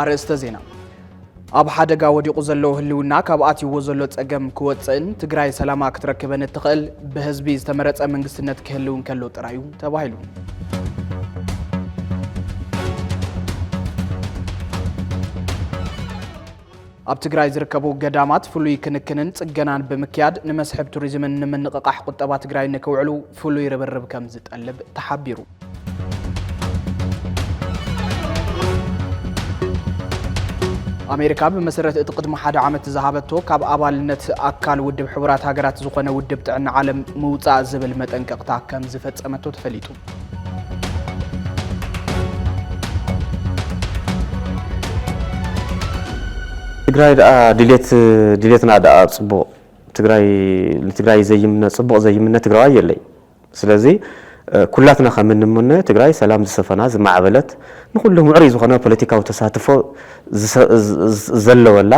ኣርእስተ ዜና ኣብ ሓደጋ ወዲቑ ዘሎ ህልውና ካብ ኣትይዎ ዘሎ ጸገም ክወፅእን ትግራይ ሰላማ ክትረክበን እትኽእል ብህዝቢ ዝተመረፀ መንግስትነት ክህልው እንከሎ ጥራይ እዩ ተባሂሉ። ኣብ ትግራይ ዝርከቡ ገዳማት ፍሉይ ክንክንን ፅገናን ብምክያድ ንመስሕብ ቱሪዝምን ንምንቕቓሕ ቁጠባ ትግራይ ንክውዕሉ ፍሉይ ርብርብ ከም ዝጠልብ ተሓቢሩ። ኣሜሪካ ብመሰረት እቲ ቅድሚ ሓደ ዓመት ዝሃበቶ ካብ ኣባልነት ኣካል ውድብ ሕቡራት ሃገራት ዝኾነ ውድብ ጥዕና ዓለም ምውፃእ ዝብል መጠንቀቕታ ከም ዝፈፀመቶ ተፈሊጡ። ትግራይ ደኣ ድሌት ድሌትና ደኣ ጽቡቕ ትግራይ ንትግራይ ዘይምነ ጽቡቕ ዘይምነ ትግራዋይ የለይ ስለዚ ኩላትና ከም እንምነ ትግራይ ሰላም ዝሰፈና ዝማዕበለት ንኹሉ ምዕሩይ ዝኾነ ፖለቲካዊ ተሳትፎ ዘለወላ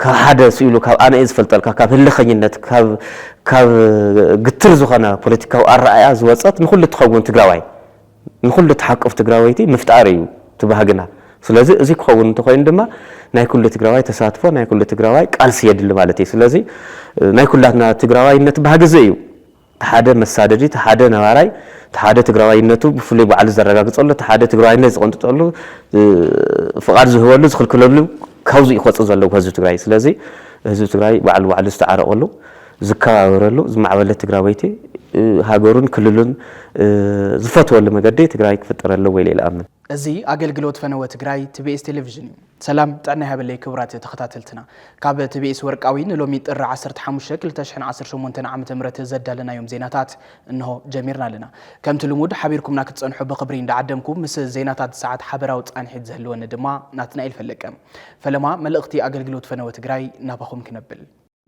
ካብ ሓደ ስኢሉ ካብ ኣነ'የ ዝፈልጠልካ ካብ ህልኸኝነት ካብ ካብ ግትር ዝኾነ ፖለቲካዊ ኣረኣእያ ዝወጸት ንኹሉ እትኸውን ትግራዋይ ንኹሉ እትሓቁፍ ትግራወይቲ ምፍጣር እዩ እቲ ባህግና። ስለዚ እዚ ክኸውን እንተኾይኑ ድማ ናይ ኩሉ ትግራዋይ ተሳትፎ ናይ ኩሉ ትግራዋይ ቃልሲ የድሊ ማለት እዩ። ስለዚ ናይ ኩላትና ትግራዋይነት ባህጊ እዚ እዩ። እቲ ሓደ መሳደዲ፣ እቲ ሓደ ነባራይ፣ እቲ ሓደ ትግራዋይነቱ ብፍሉይ ባዕሉ ዘረጋግፀሉ፣ እቲ ሓደ ትግራዋይነት ዝቕንጥጠሉ፣ ፍቓድ ዝህበሉ፣ ዝኽልክለሉ ካብዙይ እዩ ክወፅእ ዘለዎ ህዝቢ ትግራይ። ስለዚ ህዝቢ ትግራይ ባዕሉ ባዕሉ ዝተዓረቐሉ፣ ዝከባበረሉ፣ ዝማዕበለ ትግራወይቲ ሃገሩን ክልሉን ዝፈትወሉ መገዲ ትግራይ ክፍጠር ኣለዎ ኢለ ኢለ እኣምን። እዚ ኣገልግሎት ፈነወ ትግራይ ትቤኤስ ቴሌቪዥን እዩ። ሰላም ጥዕና ይሃበለይ ክቡራት ተኸታተልትና ካብ ቲቢኤስ ወርቃዊ ንሎሚ ጥሪ ዓሰርተ ሓሙሽተ ክልተ ሽሕን ዓሰርተ ሸሞንተን ዓመተ ምህረት ዘዳለናዮም ዜናታት እንሆ ጀሚርና ኣለና። ከምቲ ልሙድ ሓቢርኩምና ክትጸንሑ ብኽብሪ እንዳዓደምኩ ምስ ዜናታት ሰዓት ሓበራዊ ጻንሒት ዝህልወኒ ድማ ናትናኤል ፈለቀ ፈለማ መልእኽቲ ኣገልግሎት ፈነወ ትግራይ ናባኹም ክነብል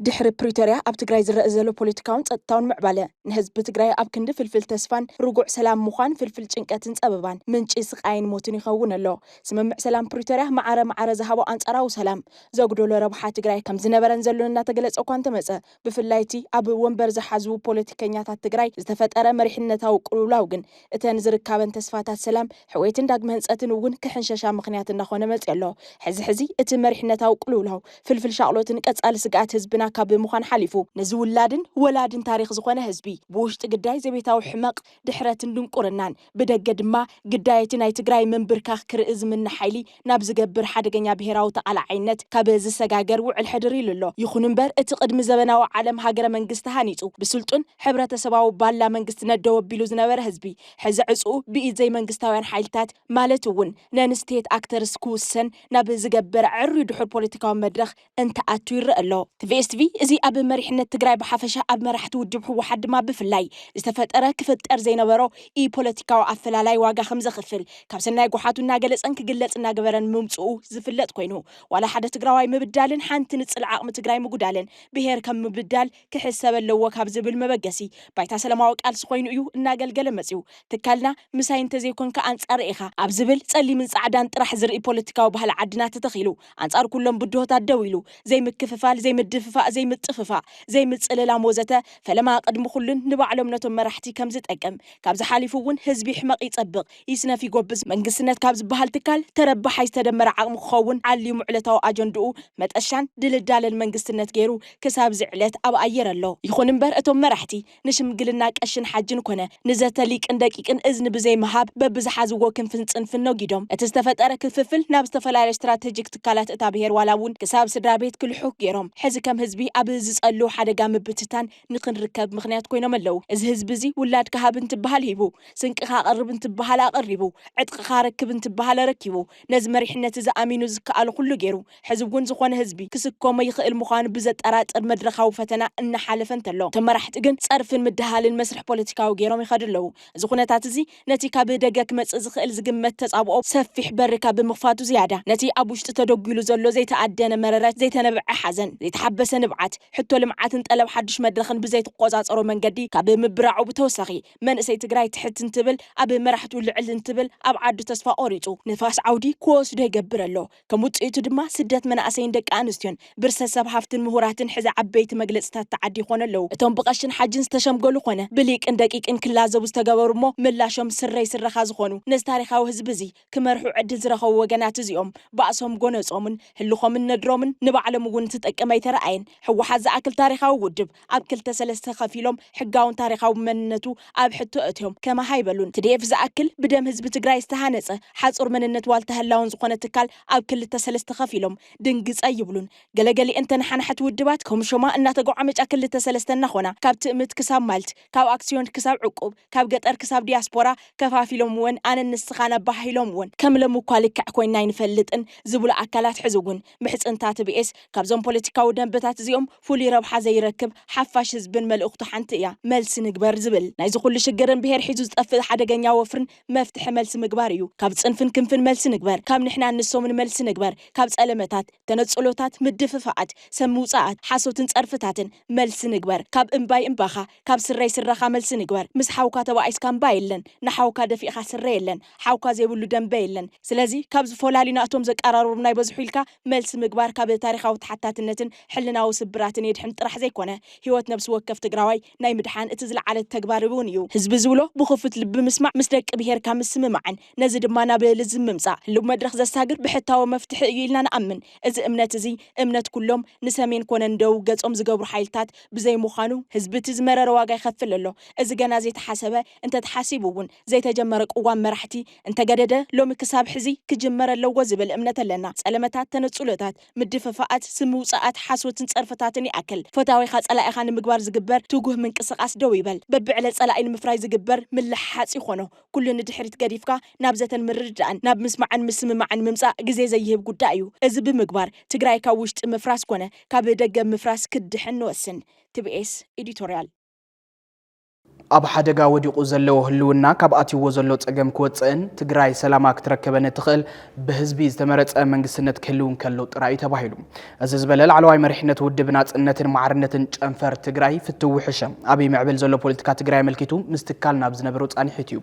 ድሕሪ ፕሪቶርያ ኣብ ትግራይ ዝረእ ዘሎ ፖለቲካውን ፀጥታውን ምዕባለ ንህዝቢ ትግራይ ኣብ ክንዲ ፍልፍል ተስፋን ርጉዕ ሰላም ምዃን ፍልፍል ጭንቀትን ፀበባን ምንጪ ስቓይን ሞትን ይኸውን ኣሎ። ስምምዕ ሰላም ፕሪቶርያ ማዕረ ማዕረ ዝሃቦ ኣንፃራዊ ሰላም ዘጉደሎ ረብሓ ትግራይ ከም ዝነበረን ዘሎን እናተገለፀ እኳ እንተመፀ ብፍላይ እቲ ኣብ ወንበር ዝሓዙ ፖለቲከኛታት ትግራይ ዝተፈጠረ መሪሕነታዊ ቅልውላው ግን እተን ዝርካበን ተስፋታት ሰላም፣ ሕውየትን ዳግመ ህንጸትን እውን ክሕንሸሻ ምኽንያት እናኾነ መጺኦ ኣሎ። ሕዚ ሕዚ እቲ መሪሕነታዊ ቅልውላው፣ ፍልፍል ሻቕሎትን ቀጻሊ ስግኣት ህዝብና ካብ ምዃን ሓሊፉ፣ ነዚ ውላድን ወላድን ታሪኽ ዝኾነ ህዝቢ፣ ብውሽጢ ግዳይ ዘቤታዊ ሕመቕ፣ ድሕረትን ድንቁርናን፣ ብደገ ድማ ግዳይ እቲ ናይ ትግራይ ምንብርካኽ ክርኢ ዝምነ ሓይሊ፣ ናብ ዝገብር ሓደገኛ ብሄራዊ ተቓላዓይነት ካብ ዝሰጋገር ውዕል ሕድር ኢሉ ኣሎ። ይኹን እምበር እቲ ቅድሚ ዘበናዊ ዓለም ሃገረ መንግስቲ ሃኒጹ ብስልጡን ሕብረተሰባዊ ባላ መንግስቲ ነደው ኣቢሉ ዝነበረ ህዝቢ፣ ሕዚ ዕጽኡ ብኢድ ዘይመንግስታውያን ሓይልታት ማለት እውን ነን ስቴት ኣክተርስ ክውሰን ናብ ዝገበር ኣዐርዩ ድሑር ፖለቲካዊ መድረኽ እንትኣቱ ይረኣ ኣሎ። ትቪኤስ ትቪ እዚ ኣብ መሪሕነት ትግራይ ብሓፈሻ ኣብ መራሕቲ ውድብ ህወሓት ድማ ብፍላይ ዝተፈጠረ ክፍጠር ዘይነበሮ ኢፖለቲካዊ ኣፈላላይ ዋጋ ከምዘኽፍል ካብ ሰናይ ጎሓቱ እናገለፀን ክግለፅ እናገበረን ምምፅኡ ዝፍለጥ ኮይኑ ዋላ ሓደ ትግራዋይ ምብዳልን ሓንቲ ንፅል ዓቕሚ ትግራይ ምጉዳልን ብሄር ከም ምብዳል ክሕሰብ ኣለዎ ካብ ዝብል መበገሲ፣ ባይታ ሰላማዊ ቃልሲ ኮይኑ እዩ እናገልገለ መጺኡ። ትካልና ምሳይ እንተዘይኮንካ ኣንጻረይ ኢኻ ኣብ ዝብል ጸሊምን ጻዕዳን ጥራሕ ዝርኢ ፖለቲካዊ ባህሊ ዓድና ተተኺሉ፣ ኣንጻር ኩሎም ብድሆታት ደው ኢሉ፣ ዘይምክፍፋል፣ ዘይምድፍፋእ፣ ዘይምጥፍፋእ፣ ዘይምጽልላም ወዘተ፣ ፈለማ ቅድሚ ኩሉን ንባዕሎም ነቶም መራሕቲ ከምዝጠቅም፣ ካብዚ ሓሊፉ እውን ህዝቢ ይሕመቕ ይጸብቕ፣ ይስነፍ ይጎብዝ መንግስትነት ካብ ዝበሃል ትካል ተረባሓይ ዝተደመረ ዓቕሚ ክኸውን ዓሊሙ ዕለታዊ ኣጀንድኡ መጠሻን ድልዳለን መንግስትነት ገይሩ ክሳብ እዚ ዕለት ኣብ ኣየር ኣሎ። ይኹን እምበር እቶም መራሕቲ ንሽምግልና ቀሽን ሓጅን ኮነ ንዘተ ሊቅን ደቂቅን እዝኒ ብዘይ ምሃብ በብዝሓዝዎ ክንፍን ፅንፍን ነጊዶም እቲ ዝተፈጠረ ክፍፍል ናብ ዝተፈላለየ ስትራተጂክ ትካላት እታ ብሄር ዋላ እውን ክሳብ ስድራቤት ክልሑኽ ገይሮም ሕዚ ከም ህዝቢ ኣብ ዝፀልው ሓደጋ ምብትታን ንክንርከብ ምኽንያት ኮይኖም ኣለው። እዚ ህዝቢ እዚ ውላድካ ሃብ እንትበሃል ሂቡ፣ ስንቅኻ ኣቕርብ እንትበሃል ኣቐሪቡ፣ ዕጥቕኻ ኣረክብ እንትበሃል ኣረኪቡ፣ ነዚ መሪሕነት እዚ ኣሚኑ ዝከኣሎ ኩሉ ገይሩ፣ ሕዚ እውን ዝኾነ ህዝቢ ክስከሞ ይኽእል ምዃኑ ብዘጠራጥር መድረኻዊ ፈተና እናሓለፈ እንተሎ፣ ተመራሕቲ ግን ጸርፍን ምድሃልን መስርሕ ፖለቲካዊ ገይሮም ይኸዱ ኣለው። እዚ ኩነታት እዚ። ነቲ ካብ ደገ ክመጽእ ዝኽእል ዝግመት ተጻብኦ ሰፊሕ በሪ ካብ ምኽፋቱ ዝያዳ፣ ነቲ ኣብ ውሽጢ ተደጒሉ ዘሎ ዘይተኣደነ መረረት፣ ዘይተነብዐ ሓዘን፣ ዘይተሓበሰ ንብዓት፣ ሕቶ ልምዓትን ጠለብ ሓድሽ መድረኽን ብዘይትቆጻጸሮ መንገዲ ካብ ምብራዑ ብተወሳኺ፣ መንእሰይ ትግራይ ትሕት እንትብል፣ ኣብ መራሕቱ ልዕል እንትብል፣ ኣብ ዓዱ ተስፋ ቆሪጹ ንፋስ ዓውዲ ክወስዶ ይገብር ኣሎ። ከም ውጽኢቱ ድማ ስደት መናእሰይን ደቂ ኣንስትዮን፣ ብርሰት ሰብ ሃፍትን ምሁራትን ሕዚ ዓበይቲ መግለጺታት ተዓዲ ይኾኑ ኣለዉ። እቶም ብቐሽን ሓጅን ዝተሸምገሉ ኮነ ብሊቅን ደቂቅን ክላዘቡ ዝተገበሩ እሞ ምላሾም ስረይ ስረኻ ዝኾኑ ነዚ ታሪኻዊ ህዝቢ እዚ ክመርሑ ዕድል ዝረኸቡ ወገናት እዚኦም ባእሶም ጎነጾምን ህልኾምን ነድሮምን ንባዕሎም እውን እትጠቅም ኣይተረኣየን። ህወሓት ዝኣክል ታሪኻዊ ውድብ ኣብ ክልተ ሰለስተ ከፊሎም ሕጋውን ታሪኻዊ መንነቱ ኣብ ሕቶ ኣእትዮም ከማህ ኣይበሉን። ትዲኤፍ ዝኣክል ብደም ህዝቢ ትግራይ ዝተሃነፀ ሓፁር መንነት ዋልታ ህላወን ዝኾነ ትካል ኣብ ክልተ ሰለስተ ከፊሎም ድንግፅ ኣይብሉን። ገለገሊኤን ተነሓናሕቲ ውድባት ከምሾማ እናተጎዓመጫ ክልተ ሰለስተ እናኾና ካብ ትእምት ክሳብ ማልት፣ ካብ ኣክስዮን ክሳብ ዕቁብ፣ ካብ ገጠር ክሳብ ዲያስፖራ ከፋፊሎምወን ኣነን ንስኻን ኣበሃሂሎምወን። ከም ለምኳ ልክዕ ኮይና ኣይንፈልጥን ዝብሉ ኣካላት ሕዚ እውን ምሕጽንታ ትብኤስ ካብዞም ፖለቲካዊ ደንበታት እዚኦም ፍሉይ ረብሓ ዘይረክብ ሓፋሽ ህዝብን መልእኽቱ ሓንቲ እያ፣ መልሲ ንግበር ዝብል። ናይዚ ኩሉ ሽግርን ብሄር ሒዙ ዝጠፍእ ሓደገኛ ወፍርን መፍትሒ መልሲ ምግባር እዩ። ካብ ጽንፍን ክንፍን መልሲ ንግበር፣ ካብ ንሕናን ንሶምን መልሲ ንግበር፣ ካብ ጸለመታት፣ ተነጽሎታት፣ ምድፍፋኣት፣ ሰብ ምውጻኣት፣ ሓሶትን ጸርፍታትን መልሲ ንግበር፣ ካብ እምባይ እምባኻ፣ ካብ ስረይ ስረኻ መልሲ ንግበር ምስ ሓውካ ተባኢስካ እምባ የለን ንሓውካ ደፊእኻ ስረ የለን ሓውካ ዘይብሉ ደምበ የለን ስለዚ ካብ ዝፎላሊና እቶም ዘቃራርቡና ይበዝሑ ኢልካ መልሲ ምግባር ካብ ታሪኻዊ ተሓታትነትን ሕልናዊ ስብራትን የድሕን ጥራሕ ዘይኮነ ሂወት ነብሲ ወከፍ ትግራዋይ ናይ ምድሓን እቲ ዝለዓለ ተግባር እውን እዩ። ህዝቢ ዝብሎ ብኽፉት ልቢ ምስማዕ ምስ ደቂ ብሄርካ ምስምማዕን ነዚ ድማ ናብ ልዝብ ምምፃእ ህልው መድረኽ ዘሳግር ብሕታዊ መፍትሒ እዩ ኢልና ንኣምን። እዚ እምነት እዚ እምነት ኩሎም ንሰሜን ኮነ ንደቡብ ገጾም ዝገብሩ ሓይልታት ብዘይ ምዃኑ ህዝቢ እቲ ዝመረረ ዋጋ ይኸፍል ኣሎ። እዚ ገና ዘይተሓሰበ እንተተሓሲቡ እውን ዘይተጀመረ ቅዋም መራሕቲ እንተገደደ ሎሚ ክሳብ ሕዚ ክጅመር ኣለዎ ዝብል እምነት ኣለና። ጸለመታት፣ ተነጽሎታት፣ ምድፍፋኣት፣ ስም ምውጻኣት፣ ሓሶትን ጸርፍታትን ይኣክል። ፈታዊኻ ጸላኢኻ ንምግባር ዝግበር ትጉህ ምንቅስቃስ ደው ይበል። በብዕለ ጸላኢ ንምፍራይ ዝግበር ምልሕሓጽ ይኾኖ ኩሉ ንድሕሪት ገዲፍካ ናብ ዘተን ምርድዳእን፣ ናብ ምስማዕን ምስምማዕን ምምፃእ ግዜ ዘይህብ ጉዳይ እዩ። እዚ ብምግባር ትግራይ ካብ ውሽጢ ምፍራስ ኮነ ካብ ደገ ምፍራስ ክትድሕን ንወስን። TBS Editorial። ኣብ ሓደጋ ወዲቑ ዘለዎ ህልውና ካብ ኣትዩዎ ዘሎ ፀገም ክወፅእን ትግራይ ሰላማ ክትረከበን እትኽእል ብህዝቢ ዝተመረፀ መንግስትነት ክህልው እንከሎ ጥራይ እዩ ተባሂሉ። እዚ ዝበለ ላዕለዋይ መሪሕነት ውድብ ናፅነትን ማዕርነትን ጨንፈር ትግራይ ፍትዊ ሕሸ ኣብ ይምዕብል ዘሎ ፖለቲካ ትግራይ ኣመልኪቱ ምስ ትካል ናብ ዝነበሮ ፃኒሒት እዩ።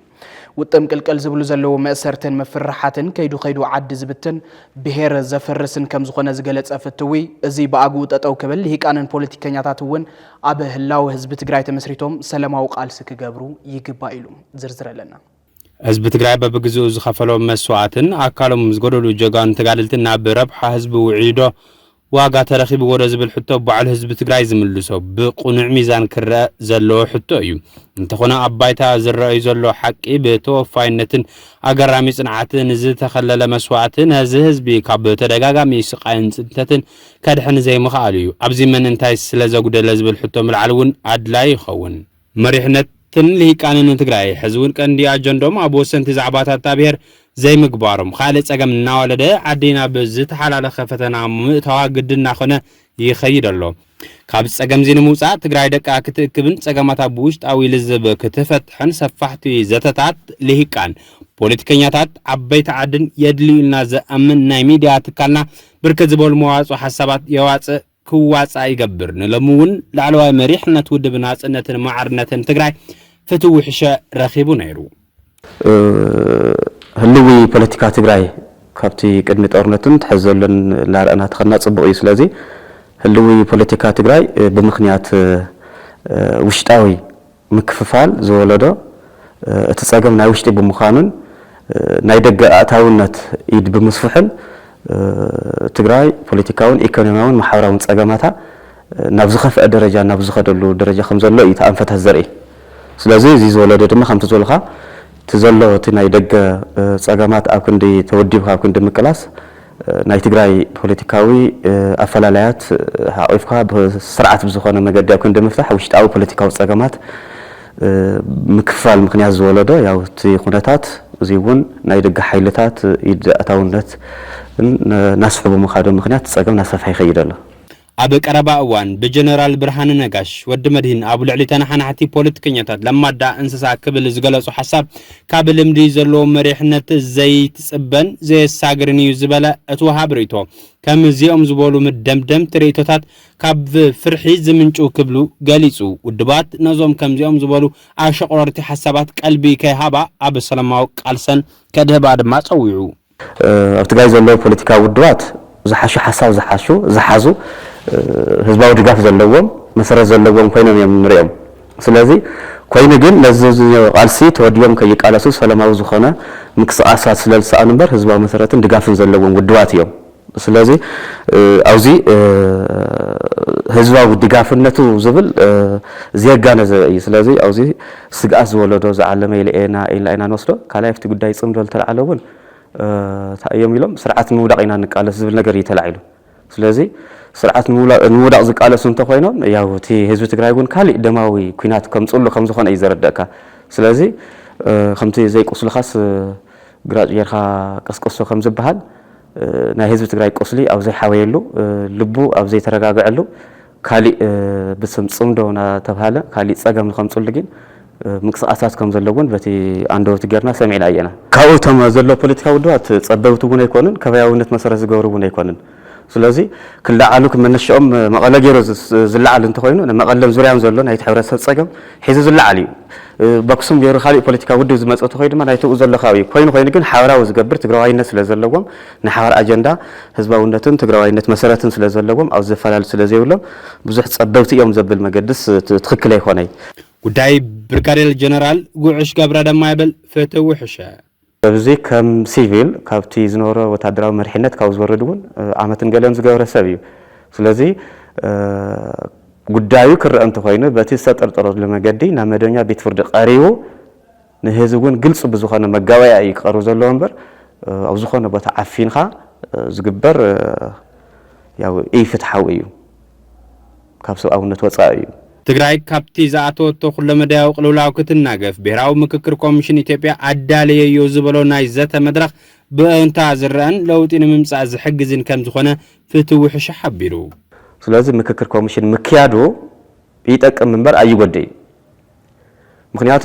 ውጥም ቅልቅል ዝብሉ ዘለዉ መእሰርትን ምፍርራሓትን ከይዱ ከይዱ ዓዲ ዝብትን ብሄር ዘፍርስን ከምዝኾነ ዝገለፀ ፍትዊ እዙይ ብኣግኡ ጠጠው ክብል ልሂቃንን ፖለቲከኛታት እውን ኣብ ህላወ ህዝቢ ትግራይ ተመስሪቶም ሰለማዊ ቃልሲ ክገብሩ ይግባእ ኢሉ። ዝርዝር ኣለና። ህዝቢ ትግራይ በብግዝኡ ዝኸፈሎ መስዋእትን ኣካሎም ዝጎደሉ ጀጋኑ ተጋደልትን ናብ ረብሓ ህዝቢ ውዒሉዶ ዋጋ ተረኺብዎዶ ዝብል ሕቶ ባዕሉ ህዝቢ ትግራይ ዝምልሶ ብቕኑዕ ሚዛን ክረኣ ዘለዎ ሕቶ እዩ። እንተኾነ ኣብ ባይታ ዝረኣዩ ዘሎ ሓቂ ብተወፋይነትን ኣገራሚ ፅንዓትን ዝተኸለለ መስዋእቲ ነዚ ህዝቢ ካብ ተደጋጋሚ ስቓይን ፅንተትን ከድሕን ዘይምኽኣሉ እዩ። ኣብዚ መን እንታይ ስለዘጉደለ ዝብል ሕቶ ምልዓል እውን ኣድላይ ይኸውን። መሪሕነትን ልሂቃንን ንትግራይ ሕዚ እውን ቀንዲ ኣጀንድኦም ኣብ ወሰንቲ ዛዕባታት እታ ብሄር ዘይምግባሮም ኻልእ ፀገም እናወለደ ዓዲ ናብ ዝተሓላለኸ ፈተና ምእታዋ ግድን እናኾነ ይኸይድ ኣሎ። ካብዚ ፀገም እዚ ንምውፃእ ትግራይ ደቃ ክትእክብን ፀገማታ ብውሽጣዊ ልዝብ ክትፈትሕን ሰፋሕቲ ዘተታት ልሂቃን፣ ፖለቲከኛታት፣ ዓበይቲ ዓድን የድልዩልና ዘእምን ናይ ሚድያ ትካልና ብርክት ዝበሉ መዋፅኦ ሓሳባት የዋፅእ ክዋፃእ ይገብር። ንሎሚ እውን ላዕለዋይ መሪሕነት ውድብ ናፅነትን ማዕርነትን ትግራይ ፍትው ውሕሸ ረኺቡ ነይሩ። ህልዊ ፖለቲካ ትግራይ ካብቲ ቅድሚ ጦርነትን ትሕዚ ዘሎን እናረኣና ተኸድና ፅቡቕ እዩ። ስለዚ ህልዊ ፖለቲካ ትግራይ ብምኽንያት ውሽጣዊ ምክፍፋል ዝወለዶ እቲ ፀገም ናይ ውሽጢ ብምዃኑን ናይ ደገ ኣእታውነት ኢድ ብምስፍሑን ትግራይ ፖለቲካውን ኢኮኖሚያውን ማሕበራውን ፀገማታ ናብ ዝኸፍኣ ደረጃ ናብ ዝኸደሉ ደረጃ ከም ዘሎ እዩ እቲ ኣንፈታት ዘርኢ። ስለዙይ እዙይ ዝወለዶ ድማ ከምቲ ዝበልኻ እቲ ዘሎ እቲ ናይ ደገ ፀገማት ኣብ ክንዲ ተወዲብካ ኣብ ክንዲ ምቅላስ ናይ ትግራይ ፖለቲካዊ ኣፈላላያት ሓቚፍካ ብስርዓት ብዝኾነ መገዲ ኣብ ክንዲ ምፍታሕ ውሽጣዊ ፖለቲካዊ ፀገማት ምክፍፋል ምኽንያት ዝወለዶ ያው እቲ ኩነታት እዙይ እውን ናይ ደገ ሓይልታት ኢድ ኣእታውነትን ናስሕቡ ምኻዶም ምኽንያት እቲ ፀገም ናሰፍሐ ይኸይድ ኣሎ። ኣብ ቀረባ እዋን ብጀነራል ብርሃነ ነጋሽ፣ ወዲ መድሂን፣ ኣብ ልዕሊ ተነሓናሕቲ ፖለቲከኛታት ለማዳ እንስሳ ክብል ዝገለጾ ሓሳብ ካብ ልምዲ ዘለዎ መሪሕነት ዘይትጽበን ዘየሳግርን እዩ ዝበለ እቲ ወሃቢ ርእይቶ፣ ከም እዚኦም ዝበሉ ምደምደምቲ ርእይቶታት ካብ ፍርሒ ዝምንጭው ክብሉ ገሊጹ። ውድባት ነዞም ከምዚኦም ዝበሉ ኣሸቑረርቲ ሓሳባት ቀልቢ ከይሃባ ኣብ ሰላማዊ ቃልሰን ከድህባ ድማ ጸዊዑ። ኣብ ትግራይ ዘለዉ ፖለቲካዊ ውድባት ዝሓሸ ሓሳብ ዝሓሹ፣ ዝሓዙ፣ ህዝባዊ ድጋፍ ዘለዎም፣ መሰረት ዘለዎም ኮይኖም እዮም እንሪኦም። ስለዚ ኮይኑ ግን ነዚ ዝኒኦ ቃልሲ ተወዲቦም ከይቃለሱ ሰለማዊ ዝኾነ ምቅስቃሳት ስለዝሰኣኑ እምበር ህዝባዊ መሰረትን ድጋፍን ዘለዎም ውድባት እዮም። ስለዚ ኣብዚ ህዝባዊ ድጋፍነቱ ዝብል ዘየጋነዘበ እዩ። ስለዚ ኣብዚ ስግኣት ዝወለዶ ዝዓለመ ኢለ እየና ኢልና ኢና ንወስዶ። ካልኣይ ኣብቲ ጉዳይ ጽምዶ ዝተላዕለ እውን እንታይ እዮም ኢሎም ስርዓት ንምውዳቕ ኢና ንቃለስ ዝብል ነገር እዩ ተላዒሉ። ስለዚ ስርዓት ንምውዳቕ ዝቃለሱ እንተኾይኖም ያው እቲ ህዝቢ ትግራይ እውን ካሊእ ደማዊ ኩናት ከምጽሉ ከምዝኾነ እዩ ዘረደእካ። ስለዚ ከምቲ ዘይቁስልኻስ ግራጭ ጌርካ ቀስቅሶ ከምዝበሃል ናይ ህዝቢ ትግራይ ቁስሊ ኣብ ዘይሓወየሉ፣ ልቡ ኣብ ዘይተረጋገዐሉ፣ ካሊእ ብስም ፅምዶ ናተብሃለ ካሊእ ፀገም ንከምፅሉ ጊን ምንቅስቃሳት ከምዘለው እውን በቲ ኣንደወቲ ገይርና ሰሚዕና እየና። ካብኡ እቶም ዘለው ፖለቲካዊ ውድባት ፀበብቲ እውን ኣይኮኑን፣ ከባያዊነት መሰረት ዝገብሩ እውን ኣይኮኑን። ስለዚ ክለዓሉ መነሸኦም መቐለ ገይሩ ዝለዓል እንተኾይኑ ንመቐለን ዙርያን ዘሎ ናይቲ ሕብረተሰብ ፀገም ሒዙ ዝለዓል እዩ። በክሱም ገይሩ ካሊእ ፖለቲካዊ ውድብ ዝመፅእ ተኾይ ድማ ናይቲ ኣብኡ ዘሎ ከባቢ ኮይኑ ኮይኑ ግን ሓበራዊ ዝገብር ትግራዋይነት ስለ ዘለዎም ናይ ሓባር ኣጀንዳ ህዝባውነትን ትግራዋይነት መሰረትን ስለ ዘለዎም ኣብዚ ዘፈላሊ ስለ ዘይብሎም ብዙሕ ፀበብቲ እዮም ዘብል መገድስ ትኽክል ኣይኾነይ። ጉዳይ ብርጋዴር ጀነራል ጉዕሽ ገብረ ደማ ይብል ፍትህ ውሕሸ። እዚ ከም ሲቪል ካብቲ ዝነበሮ ወታደራዊ መሪሕነት ካብ ዝወርድ እውን ዓመትን ገለን ዝገብረ ሰብ እዩ። ስለዚ ጉዳዩ ክረኣ እንተኾይኑ በቲ ዝተጠርጠረሉ መገዲ ናብ መደበኛ ቤት ፍርዲ ቀሪቡ ንህዝቢ እውን ግልፂ ብዝኾነ መጋበእያ እዩ ክቐርብ ዘለዎ እምበር ኣብ ዝኾነ ቦታ ዓፊንኻ ዝግበር ኢፍትሓዊ እዩ። ካብ ሰብኣውነት ወፃኢ እዩ። ትግራይ ካብቲ ዝኣተወቶ ኩለመዳያዊ ቅልውላው ክትናገፍ ብሄራዊ ምክክር ኮሚሽን ኢትዮጵያ ኣዳለየዮ ዝበሎ ናይ ዘተ መድረኽ ብእእንታ ዝረኣን ለውጢ ንምምፃእ ዝሕግዝን ከምዝኾነ ፍትው ውሕሻ ሓቢሩ። ስለዚ ምክክር ኮሚሽን ምክያዱ ይጠቅም ምበር ኣይጎድእን እዩ። ምኽንያቱ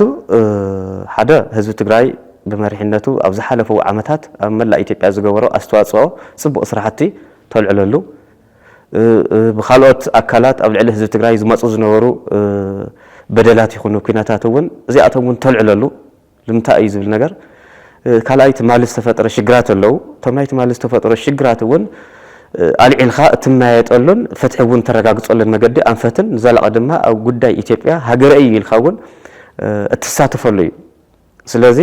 ሓደ ህዝቢ ትግራይ ብመሪሕነቱ ኣብ ዝሓለፉ ዓመታት ኣብ መላእ ኢትዮጵያ ዝገበሮ ኣስተዋፅኦ ፅቡቕ ስራሕቲ ተልዕለሉ ብኻልኦት ኣካላት ኣብ ልዕሊ ህዝቢ ትግራይ ዝመፁ ዝነበሩ በደላት ይኹኑ ኲነታት እውን እዚኣቶም እውን ተልዕለሉ ልምንታይ እዩ ዝብል ነገር ካልኣይ ትማሊ ዝተፈጥረ ሽግራት ኣለው እቶም ናይ ትማሊ ዝተፈጥሮ ሽግራት እውን ኣልዒልካ እትመያየጠሉን ፍትሒ እውን እተረጋግፀሉን መገዲ ኣንፈትን ንዘላቒ ድማ ኣብ ጉዳይ ኢትዮጵያ ሃገረይ እዩ ኢልካ እውን እትሳተፈሉ እዩ ስለዚ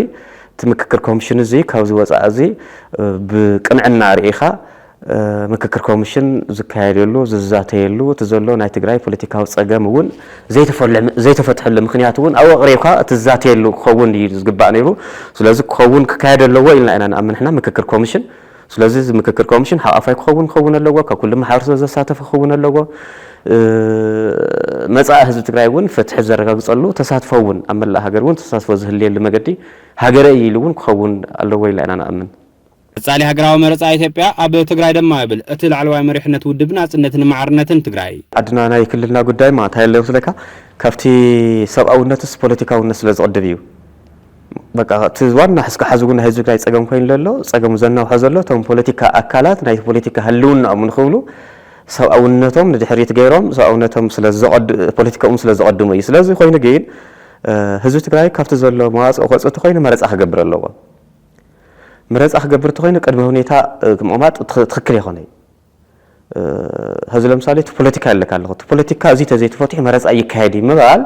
እቲ ምክክር ኮሚሽን እዚ ካብዚ ወፃኢ እዚ ብቅንዕና ርኢኻ ምክክር ኮምሽን ዝካየደሉ፣ ዝዛተየሉ፣ እቲ ዘሎ ናይ ትግራይ ፖለቲካዊ ፀገም እውን ዘይተፈትሐሉ ምኽንያት እውን ኣብኡ ኣቕሪብካ እትዛተየሉ ክኸውን እዩ ዝግባእ ነይሩ። ስለዚ ክኸውን ክካየድ ኣለዎ ኢልና ኢና ንኣምን ንሕና ምክክር ኮምሽን። ስለዚ እዚ ምክክር ኮምሽን ሓቛፋይ ክኸውን ክኸውን ኣለዎ፣ ካብ ኩሉ ማሕበረሰብ ዘሳተፈ ክኸውን ኣለዎ፣ መፃኢ ህዝቢ ትግራይ እውን ፍትሒ ዘረጋግፀሉ ተሳትፎ እውን ኣብ መላእ ሃገር እውን ተሳትፎ ዝህልየሉ መገዲ ሃገረ እዩ ኢሉ እውን ክኸውን ኣለዎ ኢልና ኢና ንኣምን። ቀፃሊ ሃገራዊ መረፃ ኢትዮጵያ ኣብ ትግራይ ደማ ይብል እቲ ላዕለዋይ መሪሕነት ውድብ ናፅነትን ማዕርነትን ትግራይ። ዓድና ናይ ክልልና ጉዳይ ማታ የለ ይወስደካ ካብቲ ሰብኣውነትስ ፖለቲካውነት ስለ ዝቅድም እዩ በቃ እቲ ዋና እስከ ሓዚ እውን ናይ ህዝቢ ትግራይ ፀገም ኮይኑ ለሎ ፀገሙ ዘናውሖ ዘሎ እቶም ፖለቲካ ኣካላት ናይቲ ፖለቲካ ህልውናኦም ንክብሉ ሰብኣውነቶም ንድሕሪት ገይሮም ሰብኣውነቶም ስለ ፖለቲካኦም ስለ ዘቀድሙ እዩ ስለዚ ኮይኑ ግን ህዝቢ ትግራይ ካብቲ ዘሎ መዋፅኦ ክወፅእ እንተኮይኑ መረፃ ክገብር ኣለዎ። ምረጻ ክገብር ተኾይኑ ቅድመ ሁኔታ ምቕማጥ ትኽክል ኣይኮነይ። ሀዚ ለምሳሌ እቲ ፖለቲካ ኣለካ ኣለኹ እቲ ፖለቲካ እዚ ተዘይተፈትሑ መረጻ ኣይካየድይ ምባል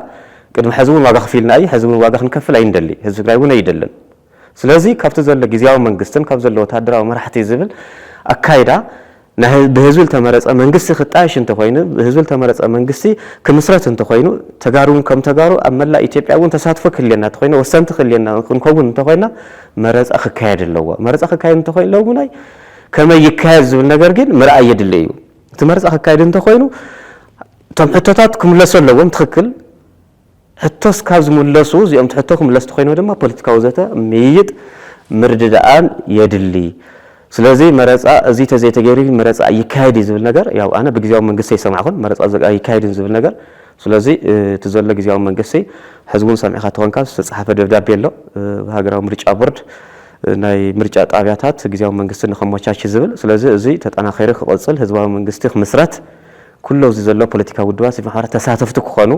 ቅድሚ ሐዚ እውን ዋጋ ከፊልና እዩ ሐዚ እውን ዋጋ ክንከፍል ኣይንደሊ ህዝቢ ትግራይ እውን ኣይደልን። ስለዚ ካብቲ ዘሎ ግዝያዊ መንግስትን ካብ ዘሎ ወታደራዊ መራሕቲ ዝብል ኣካይዳ ናይ ብህዝቢ ልተመረፀ መንግስቲ ክጣየሽ እንተኾይኑ፣ ብህዝቢ ልተመረፀ መንግስቲ ክምስረት እንተኾይኑ፣ ተጋሩ እውን ከም ተጋሩ ኣብ መላእ ኢትዮጵያ እውን ተሳትፎ ክህልየና እንተኾይኑ፣ ወሰንቲ ክህልየና ክንከውን እንተኾይና መረፃ ክካየድ ኣለዎ። መረፃ ክካየድ እንተኾይኑ ለውናይ ከመይ ይካየድ ዝብል ነገር ግን ምርኣይ የድሊ እዩ። እቲ መረፃ ክካየድ እንተኾይኑ እቶም ሕቶታት ክምለሱ ኣለዎም። ትኽክል። ሕቶ እስካብ ዝምለሱ እዚኦምቲ ሕቶ ክምለስ ተኾይኑ ድማ ፖለቲካዊ ዘተ፣ ምይይጥ፣ ምርድዳኣን የድሊ። ስለዚ መረፃ እዙይ ተዘይተገይሩ መረፃ ኣይካየድ እዩ ዝብል ነገር ያው ኣነ ብግዚያዊ መንግስቲ ኣይሰማዕኹን መረፃ ኣይካየድን ዝብል ነገር ስለዚ እቲ ዘሎ ግዚያዊ መንግስቲ ሕዚ እውን ሰሚዕኻ ተኾንካ ዝተፅሓፈ ደብዳቤ ኣሎ ሃገራዊ ምርጫ ቦርድ ናይ ምርጫ ጣብያታት ግዚያዊ መንግስቲ ንኸመቻች ዝብል ስለዚ እዙይ ተጠናኺሩ ክቕፅል ህዝባዊ መንግስቲ ክምስረት ኩሉ ኣብዚ ዘሎ ፖለቲካዊ ውድባት ሲቪክ ማሕበራት ተሳተፍቲ ክኾኑ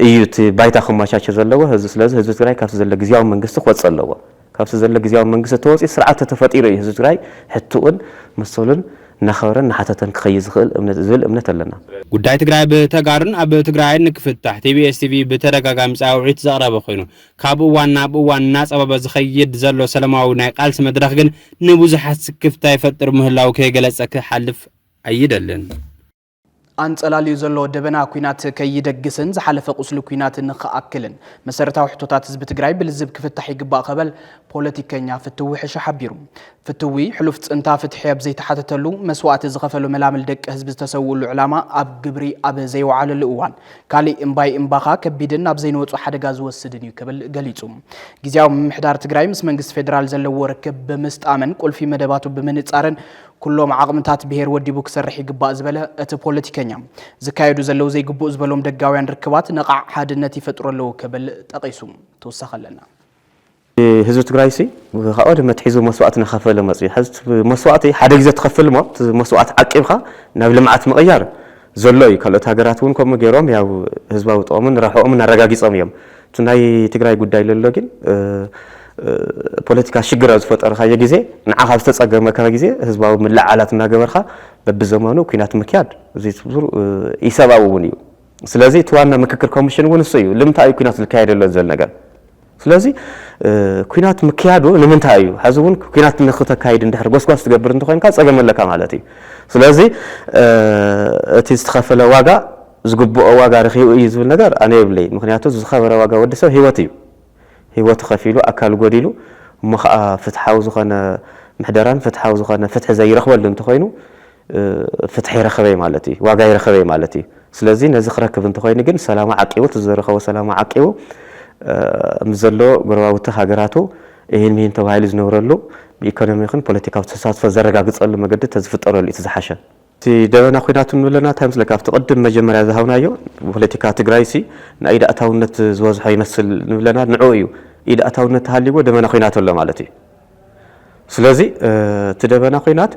እዩ እቲ ባይታ ክመቻቸ ዘለዎ ህዝቢ ስለዚ ህዝቢ ትግራይ ካብቲ ዘሎ ግዝያዊ መንግስቲ ክወፅእ ኣለዎ ካብቲ ዘሎ ግዝያዊ መንግስቲ ተወፂኡ ስርዓት ተተፈጢሩ እዩ ህዝቢ ትግራይ ሕትኡን መሰሉን እናኸበረን እናሓተተን ክኸይድ ዝኽእል ዝብል እምነት ኣለና። ጉዳይ ትግራይ ብተጋሩን ኣብ ትግራይን ንክፍታሕ ቲቢኤስ ቲቪ ብተደጋጋሚ ፃውዒት ዘቕረበ ኮይኑ ካብ እዋን ናብ እዋን እናፀበበ ዝኸይድ ዘሎ ሰለማዊ ናይ ቃልሲ መድረኽ ግን ንብዙሓት ስክፍታ ይፈጥር ምህላዉ ከይገለፀ ክሓልፍ ኣይደልን። ኣንጸላልዩ ዘሎ ደበና ኲናት ከይደግስን ዝሓለፈ ቁስሊ ኲናት ንክኣክልን መሰረታዊ ሕቶታት ህዝቢ ትግራይ ብልዝብ ክፍታሕ ይግባእ ከበል ፖለቲከኛ ፍትዊ ሕሸ ሓቢሩ። ፍትዊ ሕሉፍ ጽንታ ፍትሒ ኣብ ዘይተሓተተሉ፣ መስዋእቲ ዝኸፈሉ መላምል ደቂ ህዝቢ ዝተሰውእሉ ዕላማ ኣብ ግብሪ ኣብ ዘይወዓለሉ እዋን ካሊእ እምባይ እምባኻ ከቢድን ናብ ዘይንወጾ ሓደጋ ዝወስድን እዩ ክብል ገሊጹ። ግዝያዊ ምምሕዳር ትግራይ ምስ መንግስቲ ፌደራል ዘለዎ ርክብ ብምስጣምን ቁልፊ መደባቱ ብምንጻርን ኩሎም ዓቕምታት ብሄር ወዲቡ ክሰርሕ ይግባእ ዝበለ እቲ ፖለቲከኛ፣ ዝካየዱ ዘለዉ ዘይግቡእ ዝበሎም ደጋውያን ርክባት ነቓዕ ሓድነት ይፈጥሩ ኣለዉ ክብል ጠቒሱ። ተወሳኺ ኣለና። ህዝቢ ትግራይሲ ካብ ቀደም ኣትሒዙ መስዋእቲ እናኸፈለ መፂኡ እዩ። ሕዚ እቲ መስዋእቲ ሓደ ግዜ ትኸፍል እሞ እቲ መስዋእቲ ዓቂብኻ ናብ ልምዓት ምቕያር ዘሎ እዩ። ካልኦት ሃገራት እውን ከምኡ ገይሮም ያው ህዝባዊ ጥቕምን ረብሕኦምን ኣረጋጊፆም እዮም። እቲ ናይ ትግራይ ጉዳይ ለሎ ግን ፖለቲካ ሽግር ኣብ ዝፈጠርካዮ ግዜ ንዓኻ ኣብ ዝተፀገመካ ግዜ ህዝባዊ ምልዕዓላት እናገበርካ በቢዘመኑ ኩናት ምክያድ እዚ ኢሰብኣዊ እውን እዩ። ስለዚ እቲ ዋና ምክክር ኮሚሽን እውን እሱ እዩ። ልምንታይ እዩ ኩናት ዝካየድ ኣሎ ዝብል ነገር ስለዚ ኩናት ምክያዱ ንምንታይ እዩ? ሐዚ እውን ኩናት ንክተካይድ እንድሕር ጎስጓስ ትገብር እንተኾይንካ ፀገም ኣለካ ማለት እዩ። ስለዚ እቲ ዝተኸፈለ ዋጋ ዝግብኦ ዋጋ ረኪቡ እዩ ዝብል ነገር ኣነ የብለይን ምክንያቱ ዝከበረ ዋጋ ወዲ ሰብ ሂወት እዩ ሂወቱ ከፊሉ ኣካሉ ጎዲሉ እሞ ከኣ ፍትሓዊ ዝኮነ ምሕደራን ፍትሓዊ ዝኮነ ፍትሒ ዘይረክበሉ እንተኮይኑ ፍትሒ ረከበይ ማለት እዩ ዋጋይ ረከበይ ማለት እዩ ስለዚ ነዚ ክረክብ እንተኮይኑ ግን ሰላሙ ዓቂቡ እቲ ዝረከቦ ሰላሙ ዓቂቡ ምስ ዘሎ ጎረባብቱ ሃገራቱ እሂን ምሂን ተባሂሉ ዝነብረሉ ብኢኮኖሚ ይኩን ፖለቲካዊ ተሳትፎ ዘረጋግጸሉ መገዲ ተዝፍጠረሉ እዩ እቲ ዝሓሸ። እቲ ደበና ኩናት እንብሎ ኣለና እንታይ መስለካ ኣብቲ ቅድም መጀመርያ ዝሃብናዮ ፖለቲካ ትግራይሲ ናይ ኢድ ኣእታውነት ዝበዝሖ ይመስል ንብል ኣለና ንዕኡ እዩ ኢድ ኣእታውነት ተሃልይዎ ደበና ኩናት ኣሎ ማለት እዩ ስለዚ እቲ ደበና ኩናት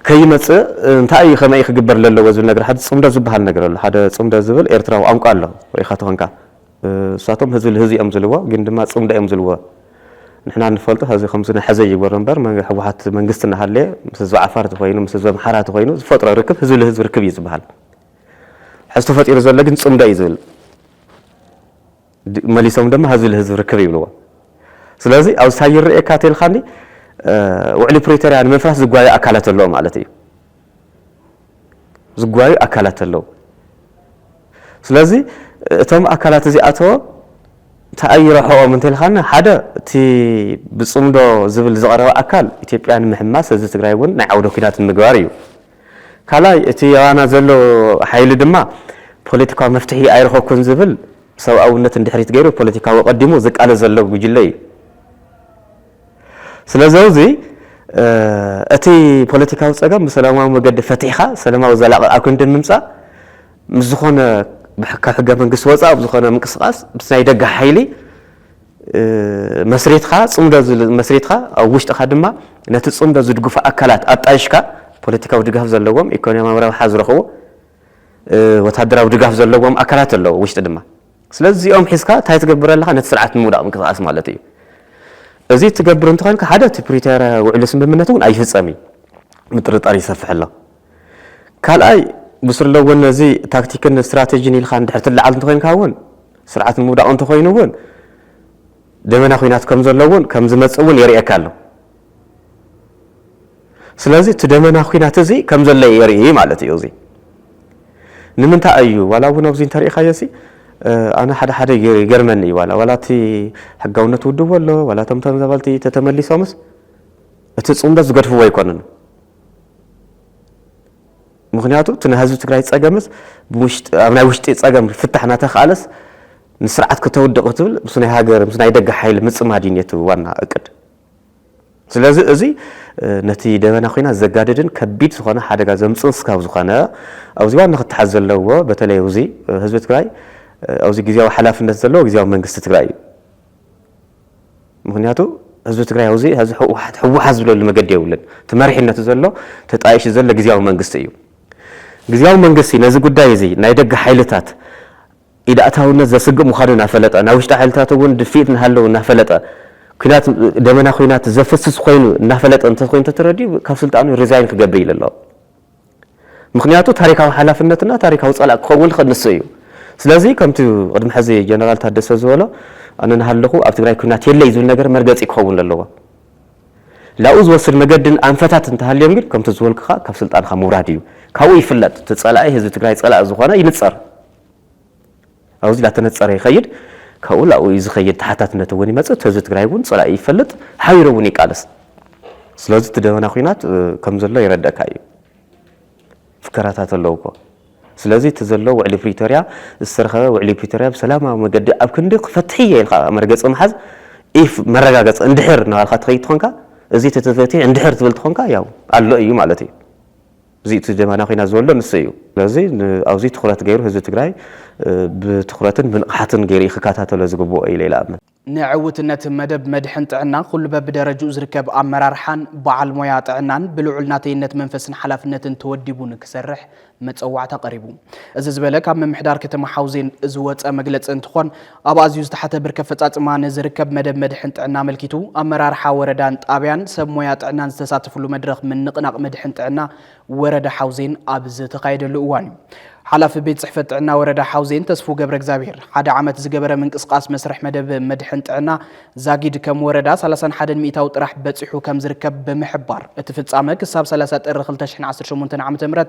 ከይመፅእ እንታይ እዩ ከመይ ክግበር ለለዎ ዝብል ነገር ሓደ ፅምዶ ዝበሃል ነገር ኣሎ ሓደ ፅምዶ ዝብል ኤርትራዊ ቋንቋ ኣሎ ሪኢኻ ተኾንካ ንሳቶም ህዚ ልህዚ እዮም ዝልዎ ግን ድማ ፅምዶ እዮም ዝልዎ ንሕና ንፈልጦ ህዚ ከምዚ ናሐዘ ይግበሮ እምበር መንገ ሕወሓት መንግስቲ ናሃለየ ምስ ህዝቢ ዓፋር ተኾይኑ ምስ ህዝቢ ኣምሓራ ተኾይኑ ዝፈጥሮ ርክብ ህዝቢ ልህዝቢ ርክብ እዩ ዝባሃል ሕዚ ተፈጢሩ ዘሎ ግን ፅምዶ እዩ ዝብል መሊሶም ድማ ህዝቢ ልህዝቢ ርክብ ይብልዎ ስለዚ ኣብዚ ታይ ይረእየካ ተልካኒ ውዕሊ ፕሪቶሪያ ንምፍራስ ዝጓየ ኣካላት ኣለዎ ማለት እዩ ዝጓዩ ኣካላት ኣለው። ስለዚ እቶም ኣካላት እዚኣቶም እንታይ ኣዩ ረብሐኦም እንተልካና ሓደ እቲ ብፅምዶ ዝብል ዝቐረበ ኣካል ኢትዮጵያ ንምሕማስ ህዝቢ ትግራይ እውን ናይ ዓውደ ኩናት ንምግባር እዩ። ካልኣይ እቲ ኣባና ዘሎ ሓይሊ ድማ ፖለቲካዊ መፍትሒ ኣይረኸብኩን ዝብል ሰብኣውነት ንድሕሪት ገይሩ ፖለቲካዊ ኣቐዲሙ ዝቃለስ ዘሎ ጉጅለ እዩ። ስለዘውዚ እቲ ፖለቲካዊ ጸገም ብሰላማዊ መገዲ ፈቲሕኻ ሰለማዊ ዘላቒ ኣብ ክንዲ ምምጻእ ምስ ዝኾነ ካብ ሕገ መንግስቲ ወጻእ ኣብ ዝኾነ ምንቅስቓስ ምስ ናይ ደገ ሓይሊ መስሪትካ ጽምዶ መስሪትካ ኣብ ውሽጥኻ ድማ ነቲ ጽምዶ ዝድግፉ ኣካላት ኣጣይሽካ ፖለቲካዊ ድጋፍ ዘለዎም ኢኮኖሚያዊ ረብሓ ዝረኽቡ ወታደራዊ ድጋፍ ዘለዎም ኣካላት ኣለዉ ውሽጢ ድማ ስለዚ እዚኦም ሒዝካ እንታይ ትገብር ኣለኻ ነቲ ስርዓት ንምውዳቕ ምንቅስቓስ ማለት እዩ። እዚ እትገብር እንተኾይንካ ሓደ እቲ ፕሪቶርያ ውዕሊ ስምምነት እውን ኣይፍፀም እዩ ምጥርጣር ይሰፍሕ ኣሎ። ካልኣይ ብስለ እውን እዚ ታክቲክን ስትራቴጂን ኢልካ እንድሕር ትለዓል እንተኾይንካ እውን ስርዓት ንምውዳቕ እንተኾይኑ እውን ደበና ኹናት ከምዘሎ እውን ከምዝመፅእ እውን የርእየካ ኣሎ። ስለዚ እቲ ደመና ኲናት እዚ ከም ዘሎ የርኢ ማለት እዩ። እዚ ንምንታይ እዩ ዋላ እውን ኣብዚ እንተሪኢኻዮሲ ኣነ ሓደ ሓደ ይገርመኒ እዩ ዋላ ዋላ እቲ ሕጋውነት ውድብ ኣሎ ዋላ እቶም ተመዛበልቲ ተተመሊሶምስ እቲ ፅምዶ ዝገድፍዎ ኣይኮነን ምክንያቱ እቲ ናይ ህዝቢ ትግራይ ፀገምስ ኣብ ናይ ውሽጢ ፀገም ፍታሕ እናተኽኣለስ ንስርዓት ከተውድቕ ትብል ምስ ናይ ሃገር ምስ ናይ ደገ ሓይሊ ምፅማድ እዩ ነቲ ዋና እቅድ ስለዚ እዚ ነቲ ደበና ኲናት ዘጋድድን ከቢድ ዝኾነ ሓደጋ ዘምጽእን ስጋብ ዝኾነ ኣብዚ ዋና ክተሓዝ ዘለዎ በተለይ ኣብዚ ህዝቢ ትግራይ ኣብዚ ግዜያዊ ሓላፍነት ዘለዎ ግዜያዊ መንግስቲ ትግራይ እዩ። ምክንያቱ ህዝቢ ትግራይ ኣብዚ ሕዚ ህወሓት ህወሓት ዝብለሉ መገዲ የብሉን። እቲ መሪሕነቱ ዘሎ ተጣይሹ ዘሎ ግዜያዊ መንግስቲ እዩ። ግዜያዊ መንግስቲ ነዚ ጉዳይ እዚ ናይ ደገ ሓይልታት ኢድኣታውነት ዘስግእ ምዃኑ እናፈለጠ፣ ናይ ውሽጢ ሓይልታት እውን ድፍኢት እናሃለዉ እናፈለጠ፣ ኲናት ደመና ዂናት ዘፍስስ ኮይኑ እናፈለጠ እንተኾይኑ ተተረዲኡ ካብ ስልጣኑ ሪዛይን ክገብር ኢሉ ኣሎ። ምኽንያቱ ታሪካዊ ሓላፍነትና ታሪካዊ ፀላእ ክኸውን ዝኽእል ንሱ እዩ። ስለዚ ከምቲ ቅድሚ ሕዚ ጀነራል ታደሰ ዝበሎ ኣነ እናሃለኹ ኣብ ትግራይ ኲናት የለይ ዝብል ነገር መርገፂ ክኸውን ዘለዎ። ላብኡ ዝወስድ መገድን ኣንፈታት እንተሃልዮም ግን ከምቲ ዝበልኩኻ ካብ ስልጣንኻ ምውራድ እዩ። ካብኡ ይፍለጥ እቲ ፀላኢ ህዝቢ ትግራይ ፀላኢ ዝኾነ ይንፀር። ኣብዚ ላተነፀረ ይኸይድ ካብኡ ላብኡ እዩ ዝኸይድ ተሓታትነት እውን ይመፅእ እቲ ህዝቢ ትግራይ እውን ፀላኢኡ ይፈልጥ ሓቢሩ እውን ይቃለስ ስለዚ እቲ ደበና ኩናት ከም ዘሎ ይረደእካ እዩ ፍከራታት ኣለዉ እኮ ስለዚ እቲ ዘሎ ውዕሊ ፕሪቶሪያ ዝተረኸበ ውዕሊ ፕሪቶሪያ ብሰላማዊ መገዲ ኣብ ክንዲ ክፈትሒ እየ ኢልካ መርገፂ ምሓዝ ኢፍ መረጋገፂ እንድሕር እናባልካ ትኸይድ ትኾንካ እዚ ተተፈትሒ እንድሕር ትብል ትኾንካ ያው ኣሎ እዩ ማለት እዩ እዚ እቲ ጀባና ኩናት ዝወልዶ ንሱ እዩ። ስለዚ ኣብዙይ ትኹረት ገይሩ ህዝቢ ትግራይ ብትኹረትን ብንቕሓትን ገይሩ እዩ ክከታተሎ ዝግብኦ ኢለ ይልኣምን። ንዕውትነት መደብ መድሕን ጥዕና ኩሉ በብደረጅኡ ዝርከብ ኣመራርሓን በዓል ሞያ ጥዕናን ብልዑል ናተይነት መንፈስን ሓላፍነትን ተወዲቡ ንክሰርሕ መፀዋዕታ ቀሪቡ። እዚ ዝበለ ካብ ምምሕዳር ከተማ ሓውዜን ዝወፀ መግለፂ እንትኾን ኣብ ኣዝዩ ዝተሓተ ብርኪ ኣፈፃፅማ ንዝርከብ መደብ መድሕን ጥዕና ኣመልኪቱ ኣመራርሓ ወረዳን ጣብያን ሰብ ሞያ ጥዕናን ዝተሳተፍሉ መድረኽ ምንቕናቕ መድሕን ጥዕና ወረዳ ሓውዜን ኣብ ዝተኻየደሉ እዋን እዩ ሓላፊ ቤት ፅሕፈት ጥዕና ወረዳ ሓውዜን ተስፉ ገብረ እግዚኣብሔር ሓደ ዓመት ዝገበረ ምንቅስቓስ መስርሕ መደብ መድሕን ጥዕና ዛጊድ ከም ወረዳ 31 ሚእታዊ ጥራሕ በፂሑ ከም ዝርከብ ብምሕባር እቲ ፍፃመ ክሳብ 30 ጥሪ 2018 ዓ ም